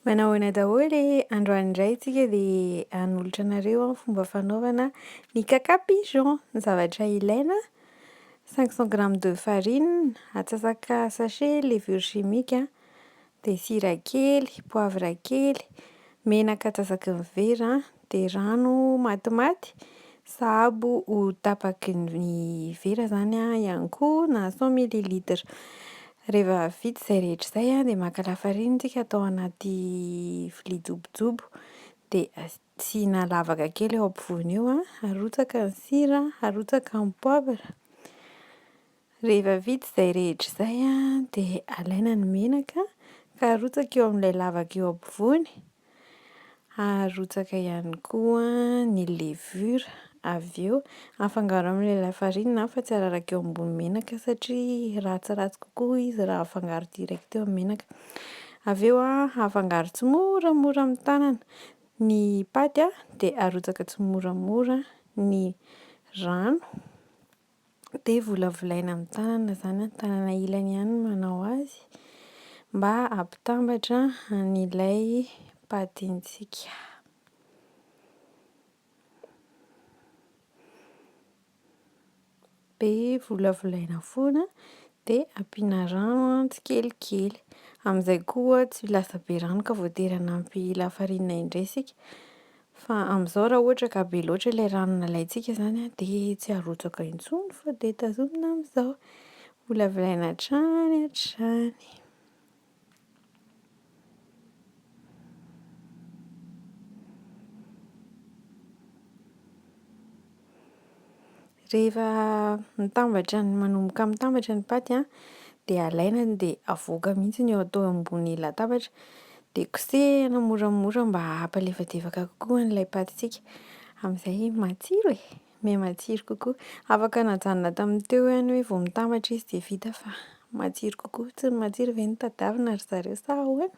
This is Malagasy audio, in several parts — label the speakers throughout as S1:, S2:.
S1: Manao ahoana daholo e! Androany indray tsika dia hanolotra anareo ny fomba fanaovana ny kaka pigeon. Ny zavatra ilaina: cinq cent grammes de farine, atsasaka sachet levure chimique an, dia sira kely, poivre kely, menaka antsasaky ny vera an. Dia rano matimaty sahabo ho tapaky ny vera izany ihany koa na cent millilitres. Rehefa vita izay rehetra izay an, dia maka lafarinina tsika atao anaty vilia jobojobo. Dia asiana lavaka kely eo ampovoany eo an, arotsaka ny sira, arotsaka ny poavra. Rehefa vita izay rehetra izay dia alaina ny menaka ka arotsaka eo amin'ilay lavaka eo ampovoany, arotsaka ihany koa ny levure avy eo, afangaro amin'ilay lafarinina fa tsy araraka eo ambony menaka satria ratsiratsy kokoa izy raha afangaro direct eo amin'ny menaka, avy eo afangaro tsimoramora amin'ny tanana, ny paty dia arotsaka tsimoramora ny rano. dia volavolaina amin'ny tanana izany an, tanana ilany ihany no manao azy mba hampitambatra an'ilay patintsika. Dia volavolaina foana dia ampiana rano tsikelikely, amin'izay koa tsy ho lasa be rano ka voatery hanampy lafarinina indray isika Fa amin'izao raha ohatra ka be loatra ilay rano nalaintsika izany an, dia tsy arotsaka intsony fa dia tazomina amin'izao. Holaviraina hatrany hatrany. Rehefa mitambatra ny manomboka mitambatra ny paty a dia alaina dia avoaka mihitsy ny eo atao ambony latabatra dia kosehina moramora mba hampalefadefaka kokoa ilay patintsika amin'izay matsiro e! miha matsiro kokoa, afaka najanona tamin'ny teo ihany hoe vao mitambatra izy dia vita fa matsiro kokoa, tsy ny matsiro ve no tadiavina ry zareo sa ahoana?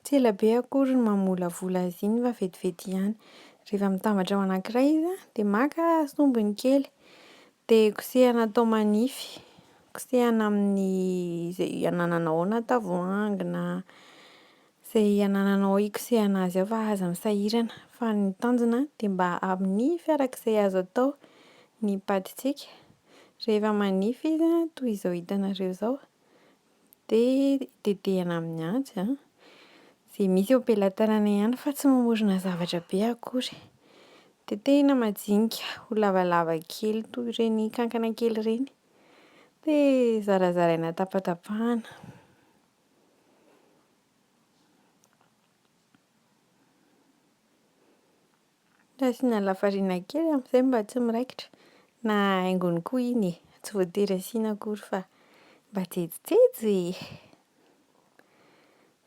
S1: Tsy ela be akory ny mamolavola azy iny fa vetivety ihany. Rehefa mitambatra ao anankiray izy an, dia maka sombiny kely, dia kosehina atao manify, kosehina amin'ny izay anananao ao na tavoahangy na. Izay anananao hikosehana azy ao fa aza misahirana fa ny tanjona dia mba amin'ny fiarak'izay azo atao ny patintsika rehefa manify izy toy izao hitanareo izao dia tetehana amin'ny antsy an! izay misy eo am-pelatanana ihany fa tsy mamorona zavatra be akory, tetehina majinika ho lavalava kely toy ireny kankana kely ireny dia zarazaraina tapatapahana. Asiana lafarina kely amin'izay mba tsy miraikitra na haingony koa iny e! Tsy voatery asiana akory fa mba jejojejo e!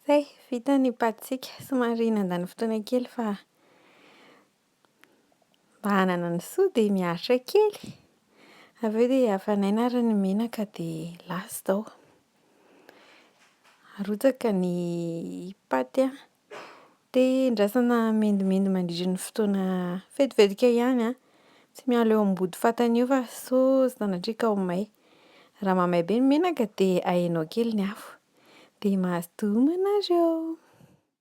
S1: Zay, vita ny paty-tsika. Somary nandany fotoana kely fa Mba hanana ny soa dia miaritra kely, avy eo dia hafanaina ary ny menaka dia last ao. Arotsaka ny paty an, dia andrasana mendimendy mandritra ny fotoana vetivetika ihany an, tsy miala eo ambody fatana eo fa sao sanatria ka ho may. Raha mahamay be ny menaka dia ahenao kely ny afo. Dia mazotoa homana ianareo!